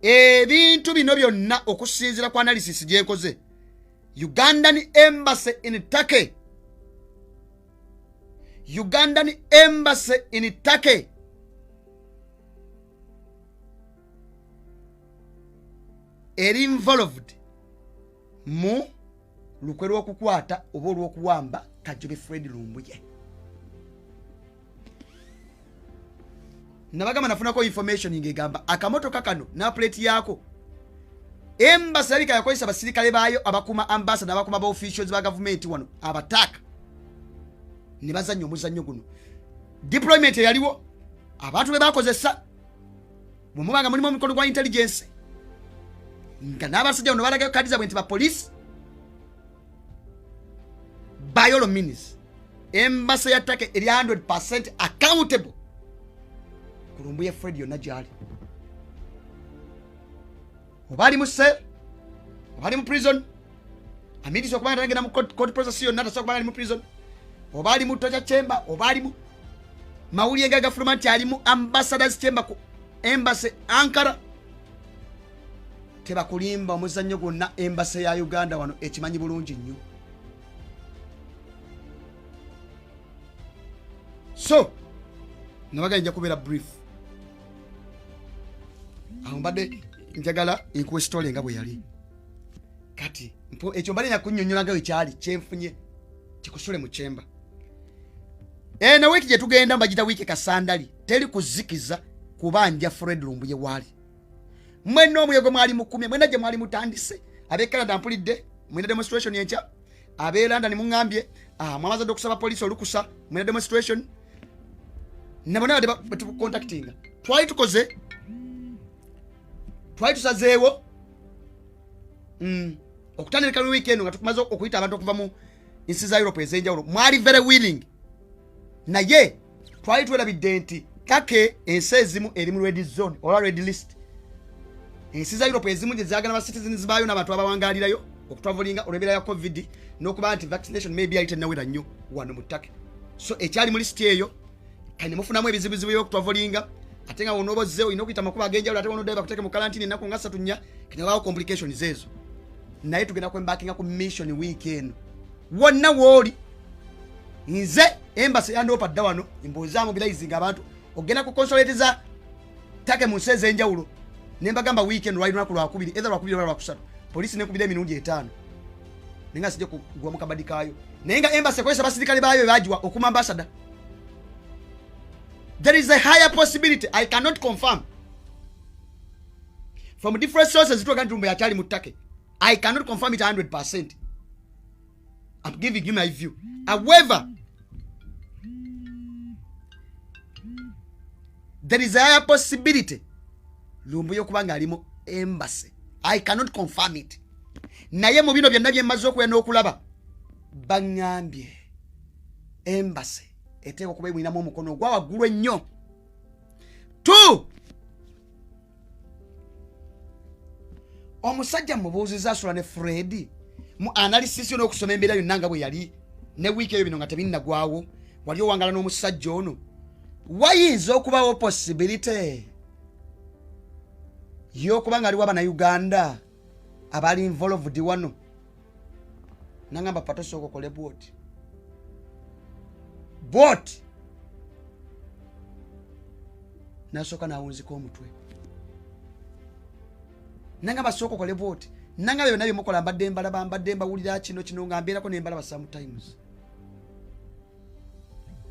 ebintu bino byonna okusinzira ku analysis gyekoze ugandan embassy in turkey ugandan embassy in turkey eri involved mu lukwe lw'okukwata oba olw'okuwamba kajube fred lumbuye nabagamba nafunako information ngegamba akamotoka kano napuleti yaako embasi labika yakozesa abasirikale baayo abakuma ambasa nabakuma ba officials ba gavumenti wano abataaka ne bazannya omuzannyo guno deployment eyaliwo abantu be bakozesa bwe mubanga mulimu omukolo gwa intelligence nga n'abasajja bano balagayo kadi zabwe nti bapoliisi by all means embasa ya take eri 100 percent accountable kulumbu ya fred yonna gyali oba ali mu sel oba ali mu prison amidisa okuba nga tagenda mu court process yonna tasobola kuba ali mu prison oba ali mu toja chamber oba ali mu mawulire ga gafuluma nti ali mu ambassadors chamber ku embassy ankara tebakulimba omuzannyo gwonna embase ya uganda wano ekimanyi bulungi nnyo so nabagala nja kubeera brief awo mbadde njagala nkuwa esitole nga bwe yali kati ekyo mbadde nakunyonyola nga wekyali kyenfunye kikusule mu kyemba ena eh, wiiki gye tugenda mbagita wiiki kasandali teri kuzikiza kubanja fred lumbuye waali mwenna omulego mwali mukumye mwena gye mwali mutandise ab'e canada mpulidde mwina demonstration enkya ab'e london muŋambye ah, mwamaze dde okusaba poliisi olukusa mwina demonstration nabona badde batucontactinga twali tukoze twali tusazeewo mm, okutandika lweekend nga tumaze okuyita abantu okuva mu nsi za europe ez'enjawulo mwali very willing naye twali twelabidde nti take ensi ezimu eri mu red zone oba red list ensi za europe ezimu gyezagala ba citizens baayo n'abantu abawangalirayo okutwavulinga olw'ebeera ya covid n'okuba nti vaccination maybe yali tenawera nnyo wano mu take so ekyali mu lisiti eyo kane mufunamu ebizibuzibu byokutwavulinga ate nga wonooba ozze olina okuyita amakuba ag'enjawulo ate wonoddayo bakuteeke mu kalantini ennaku nga satu nnya kane wabaawo complications ezo naye tugenda kwembakinga ku mission wiiki eno wonna wooli nze embasi yandoopa dda wano mbuuzaamu bilayizinga abantu ogenda ku consolate za take mu nsi ez'enjawulo ne mbagamba weekend lwali lunaku lwakubiri etha lwakubiri oba lwakusatu poliisi nekubira emirundi etaano naye nga sijja kugwa mu kabadi kaayo naye nga embasi ekozesa abasirikale baayo bebagiwa okuma ambasada there is a higher possibility i cannot confirm from different sources zitwaga nti lumbe yakyali mu take i cannot confirm it 100 percent I'm giving you my view. However, there is a higher possibility lumbuye okuba ng'ali mu embassy i cannot confirm it naye mu bino byonna byemmaze okuya n'okulaba baŋŋambye embassy eteeka okuba emulinamu omukono ogwa waggulu ennyo two omusajja mubuuziza asula ne fredi mu analysis yo n'okusoma embeera yonna nga bwe yali ne wiiki eyo bino nga tebinnagwawo wali owangala n'omusajja ono wayinza okubawo possibility y'okuba nga aliwo abanauganda abali involved wano nangamba patosooka okole bwoti bwoti nasooka nawunzika omutwe nangamba sooka okole bwoti nangamba byona byemukola mbadde mbalaba mbadde mbawulira kino kino nga mbeerako nembalaba sometimes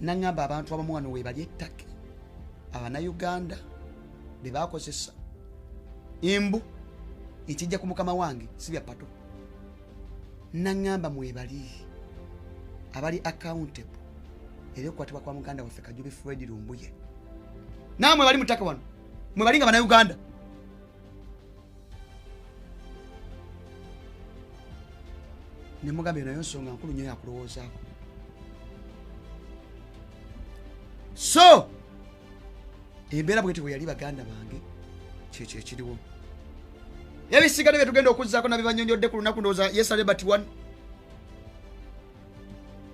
naŋŋamba abantu abamu wano webali ettake abanauganda be bakozesa embu ekijja ku mukama wange si bya pato naŋŋamba mwebali abali accountable era okukwatibwa kwa muganda waffe kajubi fred lumbuye naamwe bali mutaka wano mwe bali nga banauganda nemugambye nayo nsonga nkulu nyo yakulowoozaako so embeera bweti bwe yali baganda bange kyekyo ekiriwo ebisigale byetugenda okuzzaako nabibanyonyodde ku lunaku ndowooza yesale but one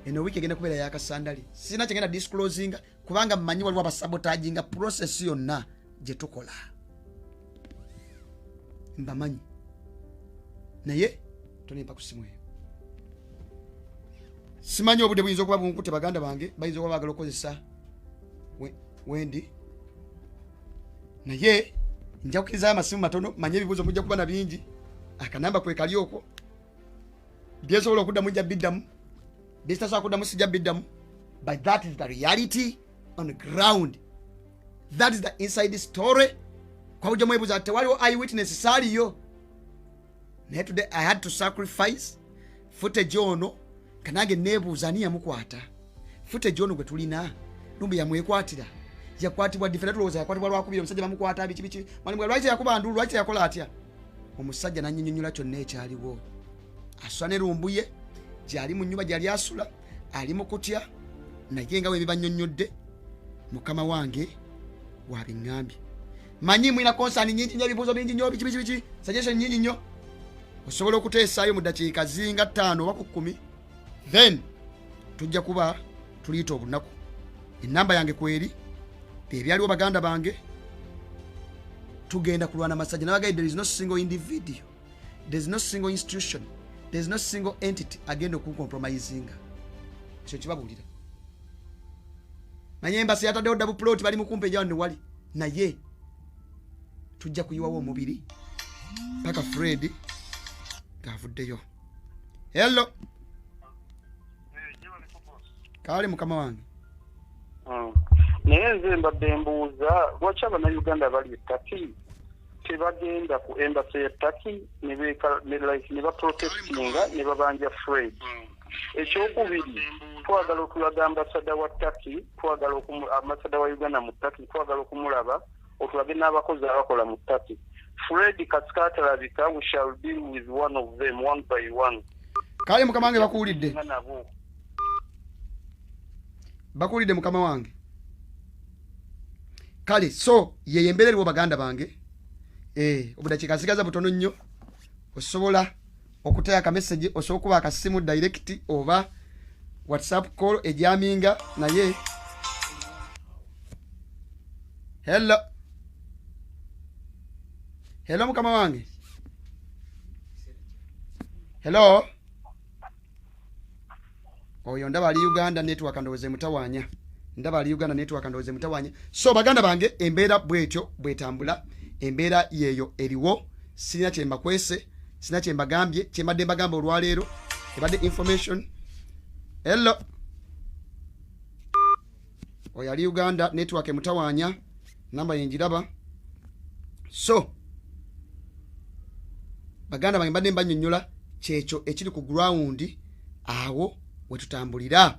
eno wiiki egenda kubeera yakasandali sirina kyegenda disclosinga kubanga mmanyi waliwo abasabotaji nga process yonna gye tukola mbamanyi naye tonempa ku simu eyo simanyi obudde buyinza okuba bunkute baganda bange bayinza okuba bagala okukozesa wendi naye nja kukirizayo amasimu matono manye ebibuuzo mujja kuba na bingi akanamba kwekali okwo byesobola okuddamu nja biddamu byesitasobola kuddamu sijja biddamu but that is the reality on the ground that is the inside story kwabuja mwebuza ati tewaliwo eye witness saaliyo naye today i had to sacrifice footage ono kanange nebuuza ani yamukwata fute john gwe tulina lumbe yamwekwatira yakwatibwa difera tulowooza yakwatibwa lwakubira omusajja bamukwata biki biki mwalimu lwaki teyakuba ndulu lwaki teyakola atya omusajja nanyinyonyola kyonna ekyaliwo asula ne lumbuye gyali mu nyumba gyali asula ali mu kutya naye nga webibanyonyodde mukama wange wabiŋambye manyi mulina konsani nyingi nyo ebibuuzo bingi nyo biki biki biki suggestion nyingi nyo osobola okuteesaayo mu ddakiika zinga ttaano oba ku kkumi then tujja kuba tuliyita obunaku enamba yange kweri ebyaliwo baganda bange tugenda kulwana masajja nabagaye there is no single individual there is no single institution there is no single entity agenda okuncompromisinga ekyo kibabuulira naye embasi yataddewo ddabu puloti bali mukumpa ejawa newali naye tujja kuyiwawo omubiri paka fred ngaavuddeyo hello kaali mukama wange hmm. naye nze mbadde mbuuza lwaki abanauganda bali etaki tebagenda ku embasi ya taki ne baprotestinga ne babanja fred mm. ekyokubiri twagala okulaga ambasada wa taki twagala ambasada wa uganda mu taki twagala okumulaba otulage n'abakozi abakola mu taki fred kasikatalabika we shall deal with one of them one by one kale mukama wange bakuwulidde bakuwulidde mukama wange kale so yeyo embeera eriwo baganda bange eh, obudakiika nsigaza butono nnyo osobola okutaya ka message osobola kuba akasimu direct oba whatsapp call ejaminga naye hello hello mukama wange hello oyo ndaba ali uganda network ndowooza emutawanya ndaba ali uganda network ndowooza emutawanya so baganda bange embeera bwetyo bwetambula embeera yeeyo eriwo sirina kyembakwese sirina kyembagambye kyembadde mbagamba olwaleero ebadde information hello oyo ali uganda network emutawanya namba yenjiraba so baganda bange mbadde mbanyonyola kyekyo ekiri ku ground awo wetutambulira